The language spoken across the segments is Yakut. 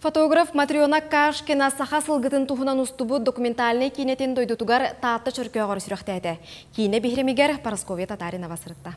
Фотограф Матрена Кашкина саха сылгытын туһунан устубут документальнай киинэтин дойдутугар Таатта чөркөөҕөр сүрэхтээтэ. Киинэ биһирэмигэр Парасковья Татаринова сырытта.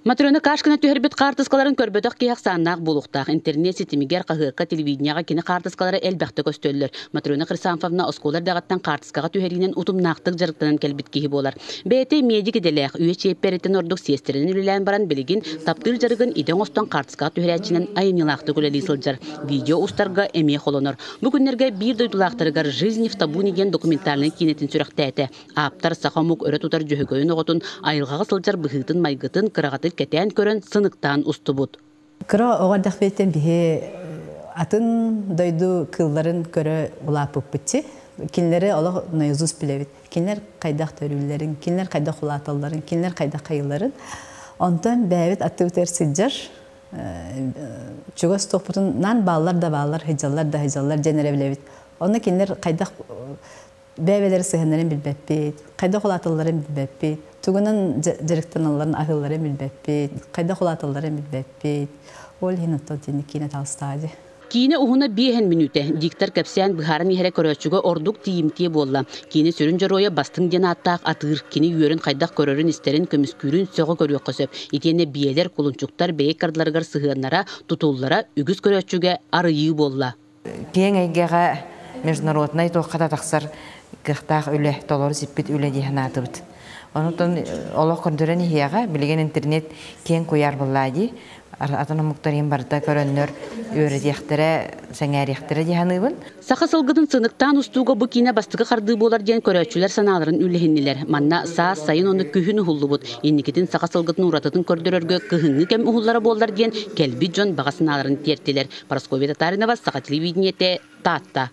Матрена Кашкина түһэрбит хаартыскаларын көрбөтөх киһи ахсааннаах буолуохтаах. Интернет ситимигэр, хаһыакка, телевидениеҕэ кини хаартыскалара элбэхтэ көстөллөр. Матрена Хрисанфовна оскуола эрдэҕиттэн хаартыскаҕа түһэриинэн утумнаахтык дьарыктанан кэлбит киһи буолар. Бэйэтэ медик идэлээх, үйэ чиэппэриттэн ордук сиэстэринэн үлэлээн баран, билигин таптыыр дьарыгын идэ оҥостон Скат түһэрээччинэн айымньылаахтык үлэлии сылдьар, видео устарга эмиэ холонор. Бу күннэргэ биир дойдулаахтарыгар «Жизнь в табу» диэн документальнай киинэтин сүрэхтээтэ. Ааптар саха омук өрө тутар дьөһөгөйүн оҕотун айылҕаҕа сылдьар быһыытын-майгытын кыраҕытык кэтээн көрөн, сыныктаан устубут. Кыра оҕо эрдэхпиттэн биһи атын дойду кыылларын көрө улааппыппыт. Кинилэри олох наизусть билэбит. кинилэр хайдах төрүүллэрин, кинилэр хайдах улааталларын, кинилэр хайдах хайыларын. Онтон бэйэбит аттыбытыгар сылдьар чугас туохпутунан бааллар да бааллар, сыдьаллар да сыдьаллар диэн эрэ билэбит. Онно кинилэр хайдах бэйэлэрин сыһыаннарын билбэппит, хайдах улааталларын билбэппит, тугунан дьарыктаналларын аһыылларын билбэппит, хайдах улааталларын билбэппит. Ол иһин оттон тиэнник киинэ таалыстаади. Киинэ уһуна биэһин мүнүүтэ. Диктор кэпсээн быһааран иһэрэ көрөөччүгэ ордук тиийимтиэ буолла. Киинэ сүрүн дьоруойа Бастыҥ диэн ааттаах атыыр. Кини үөрүн хайдах көрөрүн-истэрин, көмүскүүрүн сөҕө көрүөххэ сөп. Итиэннэ биэлэр, кулунчуктар бэйэ кардыларыгар сыһыаннара, тутуллара үгүс көрөөччүгэ арыйыы буолла. Киэҥ эйгэҕэ международнай туоххата тахсар кыахтаах үлэ, толору сиппит үлэ дии санаатыбыт. Онтон олох көрдөрөн иһиэҕэ, билигин интернет киэҥ куйаар буоллаа дии. атын омуктарыын барыта көрөннөр үөрэтиэхтэрэ, сэҥээриэхтэрэ дии саныыбын. Саха сылгытын сыныктаан устууга бу киинэ бастакы хардыы буолар диэн көрөөччүлэр санааларын үллэһиннилэр. Манна саас, сайын онно күһүн уһуллубут. Инникитин саха сылгытын уратытын көрдөрөргө кыһыҥҥы кэм уһуллара буоллар диэн кэлбит дьон баҕа санааларын тиэртилэр. Парасковья Татаринова, Саха телевидениете, Таатта.